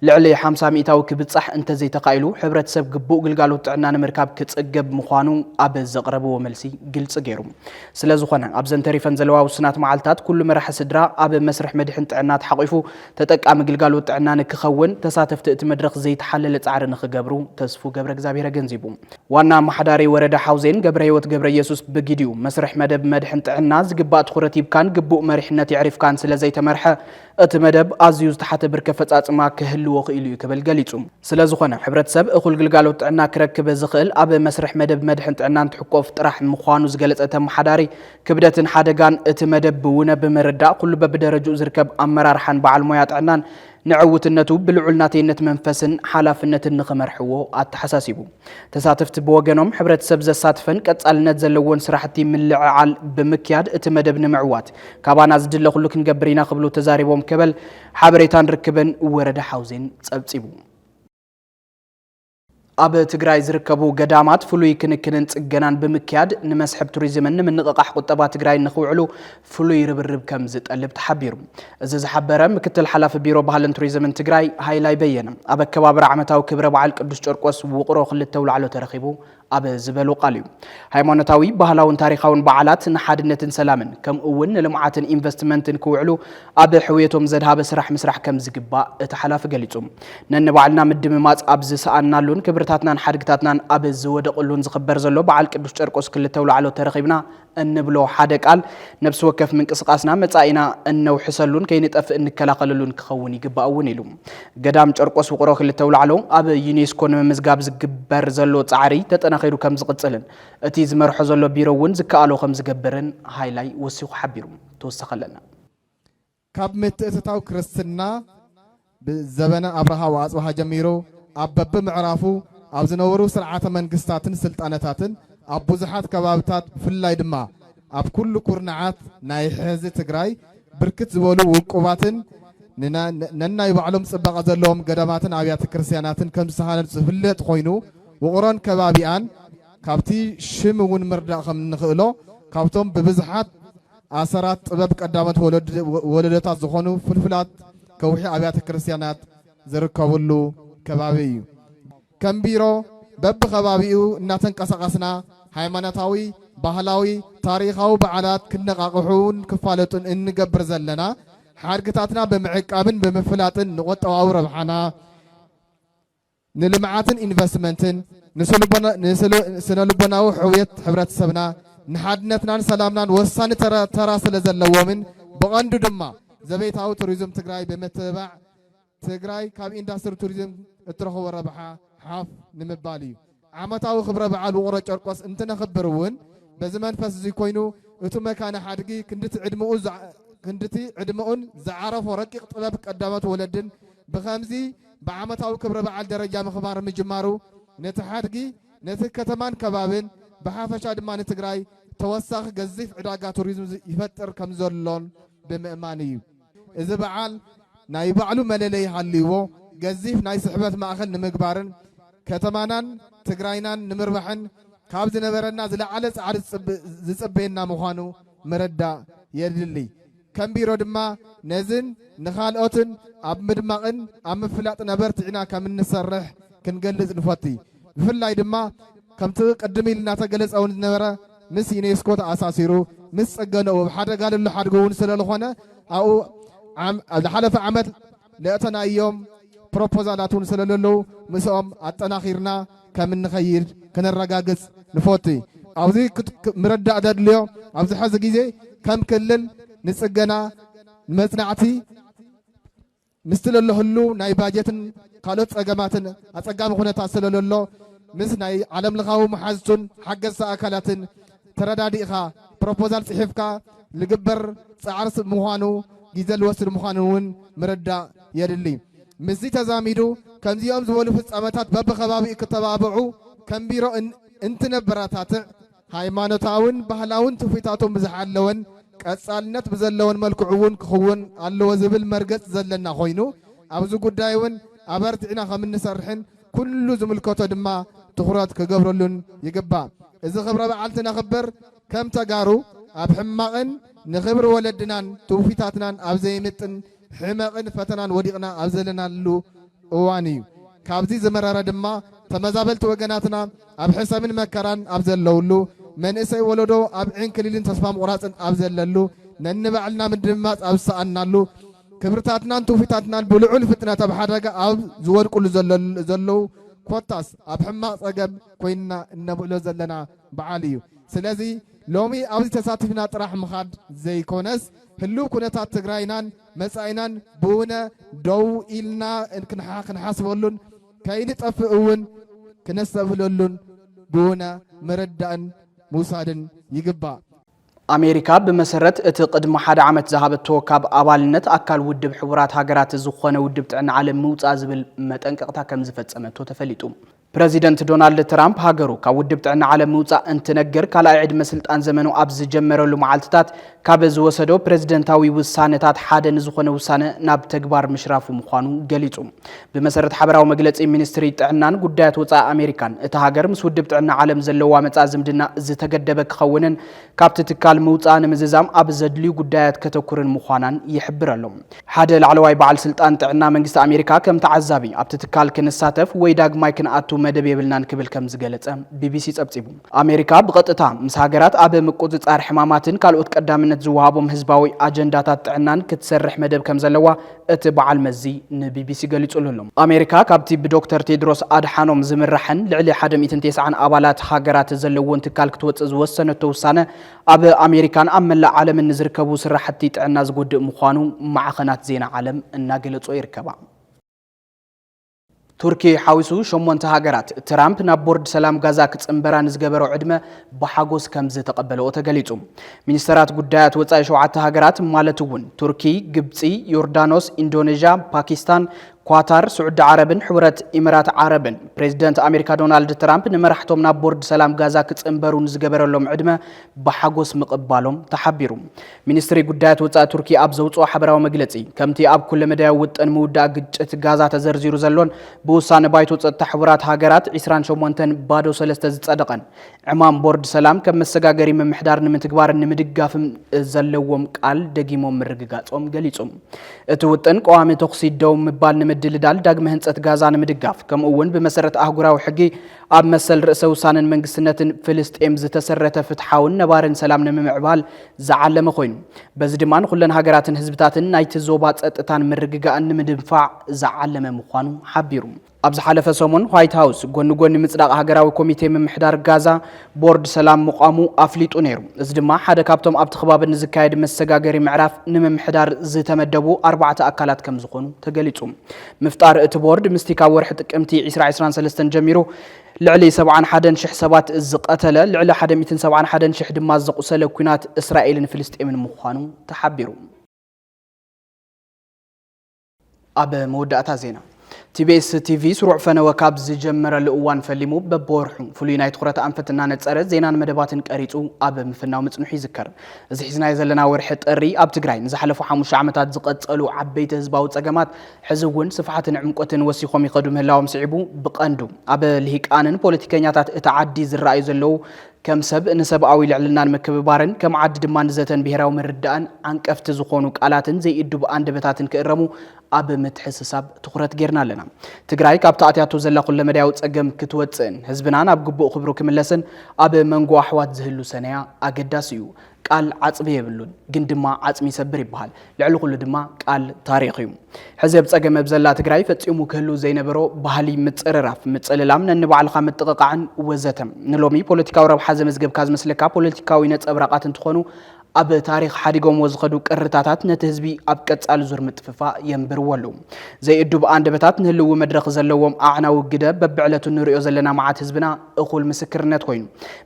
ልዕሊ ሓምሳ ሚኢታዊ ክብፃሕ እንተዘይተኻኢሉ ሕብረተሰብ ግቡእ ግልጋሎት ጥዕና ንምርካብ ክፅገብ ምዃኑ ኣብ ዘቕረብዎ መልሲ ግልፂ ገይሩ። ስለዝኾነ ኣብዘን ተሪፈን ዘለዋ ውሱናት መዓልትታት ኩሉ መራሒ ስድራ ኣብ መስርሕ መድሕን ጥዕና ተሓቒፉ ተጠቃሚ ግልጋሎት ጥዕና ንክኸውን ተሳተፍቲ እቲ መድረኽ ዘይተሓለለ ፃዕሪ ንክገብሩ ተስፉ ገብረእግዚኣብሄር ኣገንዚቡ። ዋና ኣማሓዳሪ ወረዳ ሓውዜን ገብረህይወት ገብረየሱስ ብግዲኡ፣ መስርሕ መደብ መድሕን ጥዕና ዝግባእ ትኹረት ሂብካን ግቡእ መሪሕነት የዕሪፍካን ስለዘይተመርሐ እቲ መደብ ኣዝዩ ዝተሓተ ብርኪ ኣፈፃፅማ ክህልዎ ክኢሉ እዩ ክብል ገሊፁ። ስለዝኾነ ሕብረተሰብ እኹል ግልጋሎት ጥዕና ክረክብ ዝኽእል ኣብ መስርሕ መደብ መድሕን ጥዕና እንትሕቆፍ ጥራሕ ምዃኑ ዝገለፀ እቲ ኣመሓዳሪ፣ ክብደትን ሓደጋን እቲ መደብ ብውነ ብምርዳእ ኩሉ በቢደረጅኡ ዝርከብ ኣመራርሓን በዓል ሞያ ጥዕናን ንዕውትነቱ ብልዑል ናተይነት መንፈስን ሓላፍነትን ንኽመርሕዎ ኣተሓሳሲቡ። ተሳተፍቲ ብወገኖም ሕብረተሰብ ዘሳትፈን ቀፃልነት ዘለዎን ስራሕቲ ምልዕዓል ብምክያድ እቲ መደብ ንምዕዋት ካባና ዝድለ ኩሉ ክንገብር ኢና ክብሉ ተዛሪቦም ከበል ሓበሬታን ርክብን ወረዳ ሓውዜን ፀብፂቡ። ኣብ ትግራይ ዝርከቡ ገዳማት ፍሉይ ክንክንን ፅገናን ብምክያድ ንመስሕብ ቱሪዝምን ንምንቕቓሕ ቁጠባ ትግራይን ንክውዕሉ ፍሉይ ርብርብ ከም ዝጠልብ ተሓቢሩ። እዚ ዝሓበረ ምክትል ሓላፊ ቢሮ ባህልን ቱሪዝምን ትግራይ ሃይላይ በየነ ኣብ ኣከባብራ ዓመታዊ ክብረ በዓል ቅዱስ ጨርቆስ ውቕሮ ክልተ ውላዕሎ ተረኺቡ ኣብ ዝበሎ ቃል እዩ። ሃይማኖታዊ፣ ባህላውን ታሪኻውን በዓላት ንሓድነትን ሰላምን ከምኡ እውን ንልምዓትን ኢንቨስትመንትን ክውዕሉ ኣብ ሕውየቶም ዘድሃበ ስራሕ ምስራሕ ከም ዝግባእ እቲ ሓላፊ ገሊፁ። ነንባዕልና ምድምማፅ ኣብ ዝሰኣንናሉን ክብርታትናን ሓድግታትናን ኣብ ዝወደቕሉን ዝኽበር ዘሎ በዓል ቅዱስ ጨርቆስ ክልተ ውላዕሎ ተረኺብና እንብሎ ሓደ ቃል ነብሲ ወከፍ ምንቅስቓስና መጻኢና እነውሕሰሉን ከይንጠፍእ እንከላኸለሉን ክኸውን ይግባእ እውን ኢሉ። ገዳም ጨርቆስ ውቕሮ ክልተ ኣውላዕሎ ኣብ ዩኔስኮ ንምምዝጋብ ዝግበር ዘሎ ጻዕሪ ተጠናኺሩ ከም ዝቕጽልን እቲ ዝመርሖ ዘሎ ቢሮ እውን ዝከኣሎ ከም ዝገብርን ሃይላይ ወሲኹ ሓቢሩ። ተወሳኺ ኣለና። ካብ ምትእትታው ክርስትና ብዘበነ ኣብርሃ ወኣጽብሃ ጀሚሩ ኣብ በብምዕራፉ ኣብ ዝነበሩ ስርዓተ መንግስታትን ስልጣነታትን ኣብ ብዙሓት ከባብታት ብፍላይ ድማ ኣብ ኩሉ ኩርናዓት ናይ ሕዚ ትግራይ ብርክት ዝበሉ ውቁባትን ነናይ ባዕሎም ጽባቐ ዘለዎም ገዳማትን ኣብያተ ክርስቲያናትን ከም ዝተሃነጹ ዝፍለጥ ኮይኑ ውቕሮን ከባቢኣን ካብቲ ሽም እውን ምርዳእ ከም እንኽእሎ ካብቶም ብብዝሓት ኣሰራት ጥበብ ቀዳሞት ወለዶታት ዝኾኑ ፍልፍላት ከውሒ ኣብያተ ክርስቲያናት ዝርከብሉ ከባቢ እዩ። ከም ቢሮ በብኸባቢኡ እናተንቀሳቐስና ሃይማኖታዊ፣ ባህላዊ፣ ታሪኻዊ በዓላት ክነቓቕሑን ክፋለጡን እንገብር ዘለና ሓድግታትና ብምዕቃብን ብምፍላጥን ንቁጠባዊ ረብሓና ንልምዓትን ኢንቨስትመንትን፣ ንስነልቦናዊ ሕውየት ሕብረተሰብና፣ ንሓድነትናን ሰላምናን ወሳኒ ተራ ስለዘለዎምን ብቐንዱ ድማ ዘቤታዊ ቱሪዝም ትግራይ ብምትብባዕ ትግራይ ካብ ኢንዳስትሪ ቱሪዝም እትረኽቦ ረብሓ ሓፍ ንምባል እዩ። ዓመታዊ ክብረ በዓል ውቕሮ ጨርቆስ እንትነኽብር እውን በዚ መንፈስ እዙይ ኮይኑ እቱ መካነ ሓድጊ ክንድቲ ዕድመኡን ዝዓረፎ ረቂቕ ጥበብ ቀዳሞት ወለድን ብኸምዚ ብዓመታዊ ክብረ በዓል ደረጃ ምኽባር ምጅማሩ ነቲ ሓድጊ፣ ነቲ ከተማን ከባቢን ብሓፈሻ ድማ ንትግራይ ተወሳኺ ገዚፍ ዕዳጋ ቱሪዝም ይፈጥር ከምዘሎን ብምእማን እዩ። እዚ በዓል ናይ ባዕሉ መለለዪ ሃልይዎ ገዚፍ ናይ ስሕበት ማእኸል ንምግባርን ከተማናን ትግራይናን ንምርባሕን ካብ ዝነበረና ዝለዓለ ፃዕሪ ዝፅበየና ምዃኑ ምርዳእ የድሊ። ከም ቢሮ ድማ ነዚን ንኻልኦትን ኣብ ምድማቕን ኣብ ምፍላጥን ኣበርቲዕና ከም እንሰርሕ ክንገልጽ ንፈቱ። ብፍላይ ድማ ከምቲ ቅድም ኢልና ተገለጸ እውን ዝነበረ ምስ ዩኔስኮ ተኣሳሲሩ ምስ ጽገንኡ ኣብ ሓደጋ ልሎ ሓድጉ እውን ስለልኾነ ኣብኡ ኣብ ዝሓለፈ ዓመት ነእተናዮም ፕሮፖዛላትውን ሰለለለዉ ምስኦም ኣጠናኺርና ከምንኸይድ ክነረጋግጽ ንፎቲ። ኣብዚ ክት ምረዳእ ዘድልዮ ኣብዚ ሐዚ ግዜ ከም ክልል ንጽገና ንመጽናዕቲ ምስቲ ለሎ ህሉው ናይ ባጀትን ካልኦት ጸገማትን ኣጸጋሚ ኩነታት ሰለለሎ ምስ ናይ ዓለምለኻዊ መሓዝቱን ሓገዝቲ ኣካላትን ተረዳዲእኻ ፕሮፖዛል ፅሒፍካ ልግበር ፃዕሪ ስብ ምዃኑ ግዘ ልወስድ ምዃኑ እውን ምርዳእ የድሊ። ምስዚ ተዛሚዱ ከምዚኦም ዝበሉ ፍፃመታት በቢከባቢኡ ክተባብዑ ከም ቢሮ እንትነበረታትዕ ሃይማኖታውን ባህላውን ትውፊታቶም ብዝሓለወን ቀፃልነት ብዘለዎን መልክዑ እውን ክኽውን ኣለዎ ዝብል መርገፅ ዘለና ኮይኑ ኣብዚ ጉዳይ እውን ኣበርቲዕና ከምንሰርሕን ኩሉ ዝምልከቶ ድማ ትኹረት ክገብረሉን ይግባእ። እዚ ክብረ በዓል ትነኽብር ከም ተጋሩ ኣብ ሕማቕን ንኽብሪ ወለድናን ትውፊታትናን ኣብ ዘይምጥን ሕመቕን ፈተናን ወዲቕና ኣብ ዘለናሉ እዋን እዩ። ካብዚ ዝመረረ ድማ ተመዛበልቲ ወገናትና ኣብ ሕሰምን መከራን ኣብ ዘለውሉ፣ መንእሰይ ወለዶ ኣብ ዕንክሊልን ተስፋ ምቑራጽን ኣብ ዘለሉ፣ ነንባዕልና ምድምማጽ ኣብ ዝሰኣንናሉ፣ ክብርታትናን ትውፊታትናን ብልዑል ፍጥነት ኣብ ሓደጋ ኣብ ዝወድቁሉ ዘለዉ ኮታስ ኣብ ሕማቕ ጸገም ኮይንና እነብዕሎ ዘለና በዓል እዩ። ስለዚ ሎሚ ኣብዚ ተሳቲፍና ጥራሕ ምኻድ ዘይኮነስ ህሉው ኩነታት ትግራይናን መጻኢናን ብውነ ደው ኢልና ክንሓስበሉን ከይንጠፍእ እውን ክነስተብህለሉን ብውነ ምርዳእን ምውሳድን ይግባእ። ኣሜሪካ ብመሰረት እቲ ቅድሚ ሓደ ዓመት ዝሃበቶ ካብ ኣባልነት ኣካል ውድብ ሕቡራት ሃገራት ዝኾነ ውድብ ጥዕና ዓለም ምውፃእ ዝብል መጠንቀቕታ ከም ዝፈፀመቶ ተፈሊጡ። ፕረዚደንት ዶናልድ ትራምፕ ሃገሩ ካብ ውድብ ጥዕና ዓለም ምውፃእ እንትነግር ካልኣይ ዕድመ ስልጣን ዘመኑ ኣብ ዝጀመረሉ መዓልትታት ካብ ዝወሰዶ ፕረዚደንታዊ ውሳነታት ሓደ ንዝኾነ ውሳነ ናብ ተግባር ምሽራፉ ምዃኑ ገሊፁ። ብመሰረት ሓበራዊ መግለጺ ሚኒስትሪ ጥዕናን ጉዳያት ወጻኢ ኣሜሪካን፣ እታ ሃገር ምስ ውድብ ጥዕና ዓለም ዘለዋ መጻኢ ዝምድና ዝተገደበ ክኸውንን ካብቲ ትካል ምውጽኣ ንምዝዛም ኣብ ዘድልዩ ጉዳያት ከተኩርን ምዃናን ይሕብር ኣሎ። ሓደ ላዕለዋይ በዓል ስልጣን ጥዕና መንግስቲ ኣሜሪካ ከም ተዓዛቢ ኣብቲ ትካል ክንሳተፍ ወይ ዳግማይ ክንኣቱ መደብ የብልናን ክብል ከም ዝገለጸ ቢቢሲ ጸብጺቡ። ኣሜሪካ ብቐጥታ ምስ ሃገራት ኣብ ምቁጽጻር ሕማማትን ካልኦት ቀዳምነት ዝወሃቦም ህዝባዊ ኣጀንዳታት ጥዕናን ክትሰርሕ መደብ ከም ዘለዋ እቲ በዓል መዚ ንቢቢሲ ገሊጹሉ ኣሎ። ኣሜሪካ ካብቲ ብዶክተር ቴድሮስ ኣድሓኖም ዝምራሕን ልዕሊ ሓደ ሚእትን ቴስዓን ኣባላት ሃገራት ዘለዎን ትካል ክትወጽእ ዝወሰነቶ ውሳነ ኣብ ኣሜሪካን ኣብ መላእ ዓለምን ንዝርከቡ ስራሕቲ ጥዕና ዝጎድእ ምዃኑ ማዕኸናት ዜና ዓለም እናገለጾ ይርከባ። ቱርኪ ሓዊሱ ሸሞንተ ሃገራት ትራምፕ ናብ ቦርድ ሰላም ጋዛ ክጽንበራ ንዝገበሮ ዕድመ ብሓጎስ ከም ዝተቐበለኦ ተገሊጹ። ሚኒስተራት ጉዳያት ወጻኢ ሸውዓተ ሃገራት ማለት እውን ቱርኪ፣ ግብጺ፣ ዮርዳኖስ፣ ኢንዶኔዥያ፣ ፓኪስታን፣ ኳታር፣ ስዑዲ ዓረብን ሕቡረት ኢምራት ዓረብን ፕሬዚደንት ኣሜሪካ ዶናልድ ትራምፕ ንመራሕቶም ናብ ቦርድ ሰላም ጋዛ ክጽንበሩ ንዝገበረሎም ዕድመ ብሓጎስ ምቕባሎም ተሓቢሩ። ሚኒስትሪ ጉዳያት ወጻኢ ቱርኪ ኣብ ዘውጽኦ ሓበራዊ መግለጺ፣ ከምቲ ኣብ ኩለመዳያዊ ውጥን ምውዳእ ግጭት ጋዛ ተዘርዚሩ ዘሎን ብውሳነ ባይቶ ጸጥታ ሕቡራት ሃገራት ዕስራን ሸሞንተን ባዶ ሰለስተ ዝጸደቐን ዕማም ቦርድ ሰላም ከም መሰጋገሪ ምምሕዳር ንምትግባርን ንምድጋፍን ዘለዎም ቃል ደጊሞም ምርግጋጾም ገሊጹ። እቲ ውጥን ቀዋሚ ተኹሲ ደው ምባል ንምድልዳል ዳግመ ህንጸት ጋዛ ንምድጋፍ ከምኡ'ውን ብመሰረት ኣህጉራዊ ሕጊ ኣብ መሰል ርእሰ ውሳነን መንግስትነትን ፍልስጤም ዝተሰረተ ፍትሓውን ነባርን ሰላም ንምምዕባል ዝዓለመ ኮይኑ በዚ ድማ ንኩለን ሃገራትን ህዝብታትን ናይቲ ዞባ ጸጥታን ምርግጋእን ንምድንፋዕ ዝዓለመ ምዃኑ ሓቢሩ። ኣብ ዝሓለፈ ሰሙን ዋይት ሃውስ ጎኒ ጎኒ ምጽዳቕ ሃገራዊ ኮሚቴ ምምሕዳር ጋዛ ቦርድ ሰላም ምቛሙ ኣፍሊጡ ነይሩ። እዚ ድማ ሓደ ካብቶም ኣብቲ ከባቢ ንዝካየድ መሰጋገሪ ምዕራፍ ንምምሕዳር ዝተመደቡ ኣርባዕተ ኣካላት ከምዝኾኑ ተገሊጹ። ምፍጣር እቲ ቦርድ ምስቲ ካብ ወርሒ ጥቅምቲ ዕስራ ዕስራን ሰለስተን ጀሚሩ ልዕሊ ሰብዓን ሓደን ሽሕ ሰባት ዝቐተለ፣ ልዕሊ ሓደ ሚእትን ሰብዓን ሓደን ሽሕ ድማ ዘቑሰለ ኲናት እስራኤልን ፍልስጤምን ምዃኑ ተሓቢሩ። ኣብ መወዳእታ ዜና ቲቢኤስ ቲቪ ስሩዕ ፈነወ ካብ ዝጀመረሉ እዋን ፈሊሙ በብወርሑ ፍሉይ ናይ ትኹረት ኣንፈት እናነፀረ ዜናን መደባትን ቀሪፁ ኣብ ምፍናው ምፅንሑ ይዝከር። እዚ ሒዝናዮ ዘለና ወርሒ ጥሪ ኣብ ትግራይ ንዝሓለፉ ሓሙሽተ ዓመታት ዝቐጸሉ ዓበይቲ ህዝባዊ ጸገማት ሕዚ እውን ስፍሓትን ዕምቆትን ወሲኾም ይኸዱ ምህላዎም ስዒቡ ብቐንዱ ኣብ ልሂቃንን ፖለቲከኛታት እታ ዓዲ ዝረኣዩ ዘለዉ ከም ሰብ ንሰብኣዊ ልዕልናን ምክብባርን ከም ዓዲ ድማ ንዘተን ብሄራዊ ምርዳእን ዓንቀፍቲ ዝኾኑ ቃላትን ዘይእዱብ ኣንደበታትን ክእረሙ ኣብ ምትሕስሳብ ትኹረት ጌርና ኣለና። ትግራይ ካብቲ ኣትያቶ ዘላ ኩለመዳያዊ ፀገም ክትወፅእን ህዝብና ናብ ግቡእ ክብሩ ክምለስን ኣብ መንጎ ኣሕዋት ዝህሉ ሰነያ ኣገዳሲ እዩ። ቃል ዓፅቢ የብሉን ግን ድማ ዓፅሚ ይሰብር ይበሃል። ልዕሊ ኩሉ ድማ ቃል ታሪኽ እዩ። ሕዚ ኣብ ፀገም ኣብ ዘላ ትግራይ ፈፂሙ ክህሉ ዘይነበሮ ባህሊ ምፅርራፍ፣ ምፅልላም፣ ነንባዕልኻ ምጥቕቓዕን ወዘተ ንሎሚ ፖለቲካዊ ረብሓ ዘመዝገብካ ዝመስለካ ፖለቲካዊ ነፀብራቓት እንትኾኑ ኣብ ታሪኽ ሓዲጎምዎ ዝኸዱ ቅርታታት ነቲ ህዝቢ ኣብ ቀጻሊ ዙር ምጥፍፋእ የንብርዎ ኣለዉ። ዘይእዱብ ኣንደበታት ንህልዊ መድረኽ ዘለዎም ኣዕናዊ ግደ በብዕለቱ እንርእዮ ዘለና መዓት ህዝብና እኹል ምስክርነት ኮይኑ።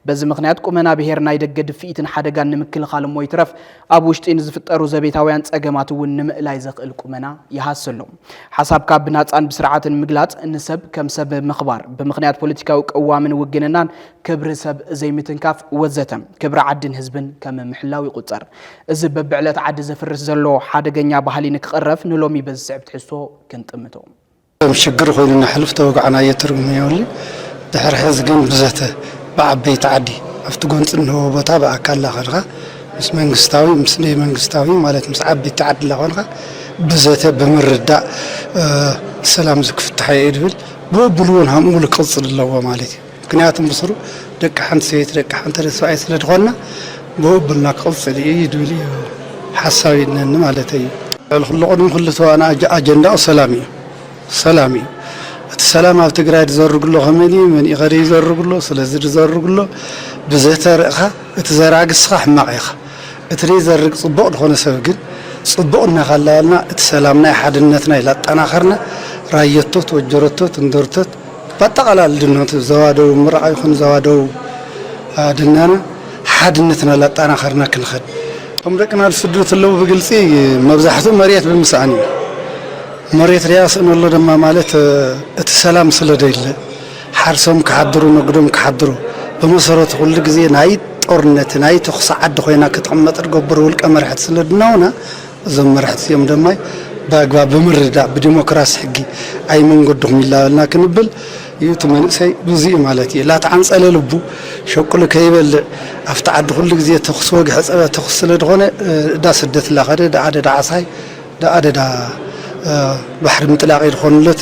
በዚ ምኽንያት ቁመና ብሄር ናይ ደገ ድፍኢትን ሓደጋን ንምክልኻል እሞ ይትረፍ ኣብ ውሽጢ ንዝፍጠሩ ዘቤታውያን ጸገማት እውን ንምእላይ ዘኽእል ቁመና ይሃሲ ኣሎ። ሓሳብካ ብናጻን ብስርዓትን ምግላጽ፣ ንሰብ ከም ሰብ ምኽባር፣ ብምኽንያት ፖለቲካዊ ቅዋምን ውግንናን ክብሪ ሰብ ዘይምትንካፍ ወዘተ ክብሪ ዓድን ህዝብን ከም ምሕላው ይቑጸር። እዚ በብዕለት ዓዲ ዘፍርስ ዘሎ ሓደገኛ ባህሊ ንክቕረፍ ንሎሚ በዚ ዝስዕብ ትሕዝቶ ክንጥምቶ። ከም ሽግር ኮይኑ ነሕልፍ ተወጋዕናዮ ትርጉም የብሉን። ድሕሪ ሕዚ ግን ብዘተ ብዓበይቲ ዓዲ ኣብቲ ጎንጺ እንሆ ቦታ ብኣካል ላኾንኻ ምስ መንግስታዊ ምስ ደይመንግስታዊ ማለት ምስ ዓበይቲ ዓዲ ላኾንኻ ብዘተ ብምርዳእ ሰላም እዚ ክፍታሕዮ እየ ድብል። ብኡብሉውን ሃምኡሉ ክቕጽል ኣለዎ ማለት እዩ። ምክንያቱ ምስሩ ደቂ ሓንቲ ሰበይቲ ደቂ ሓንቲ ሰብኣይ ስለ ድኾንና ብኡብልና ክቕፅል እዩ ድብል እዩ ሓሳብ ይነኒ ማለት እዩ። ልዕሊ ኩሉ ቅድሚ ኩሉ ተዋና ኣጀንዳኡ ሰላም እዩ ሰላም እዩ እቲ ሰላም ኣብ ትግራይ ድዘርግሎ ከመን እዩ መንእዩ ከደ ይዘርግሎ ስለዚ ድዘርግሎ ብዘተ ርእኻ እቲ ዘራጊ እስኻ ሕማቕ ኢኻ እቲ ደይዘርግ ፅቡቕ ድኾነ ሰብ ግን ፅቡቕ እናካላበልና እቲ ሰላምና ሓድነትና ኢላጣናኸርና ራየቶት ወጀረቶት እንደርቶት ባጠቓላሊ ድማ እቲ ዞባ ደቡብ ምራቕ ይኹን ዞባ ደቡብ ድናና ሓድነትና ላጣናኸርና ክንኸድ። እቶም ደቅና ዝስደዱ ተለዉ ብግልጺ መብዛሕትኡ መርየት ብምስኣን እዩ። መርየት ርያ ስእነሎ ድማ ማለት እቲ ሰላም ስለ ደይለ ሓርሶም ክሓድሩ ነግዶም ክሓድሩ ብመሰረቱ ኩሉ ግዜ ናይ ጦርነት ናይ ተኹሲ ዓዲ ኮይና ክትቕመጥ ድገብሩ ውልቀ መርሕቲ ስለ ድናውና እዞም መራሕቲ እዚኦም ድማ ብኣግባብ ብምርድዳእ ብዲሞክራሲ ሕጊ ኣይ መንገድኹም ይላበልና ክንብል እዩ እቲ መንእሰይ ብዙ እዩ ማለት እዩ ላተዓንፀለ ልቡ ሸቅሉ ከይበልዕ ኣብቲ ዓዲ ኩሉ ግዜ ተኩሲ ወግሐ ፀበ ተኩሲ ስለ ዝኾነ እዳ ስደት ላኸደ ዳዓደ ዳዓሳይ ዳዓደ ዳ ባሕሪ ምጥላቅ እዩ ዝኾንለቲ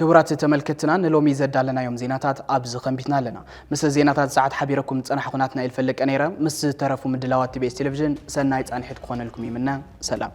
ክቡራት ተመልከትና ንሎሚ ዘዳለናዮም ዜናታት ኣብዚ ኸንቢትና ኣለና ምስ ዜናታት ሰዓት ሓቢረኩም ዝፀናሕኹ ናትናኤል ፈለቀ ነይረ ምስ ዝተረፉ ምድላዋት ቲቤስ ቴሌቭዥን ሰናይ ፃንሒት ክኾነልኩም ይምነ ሰላም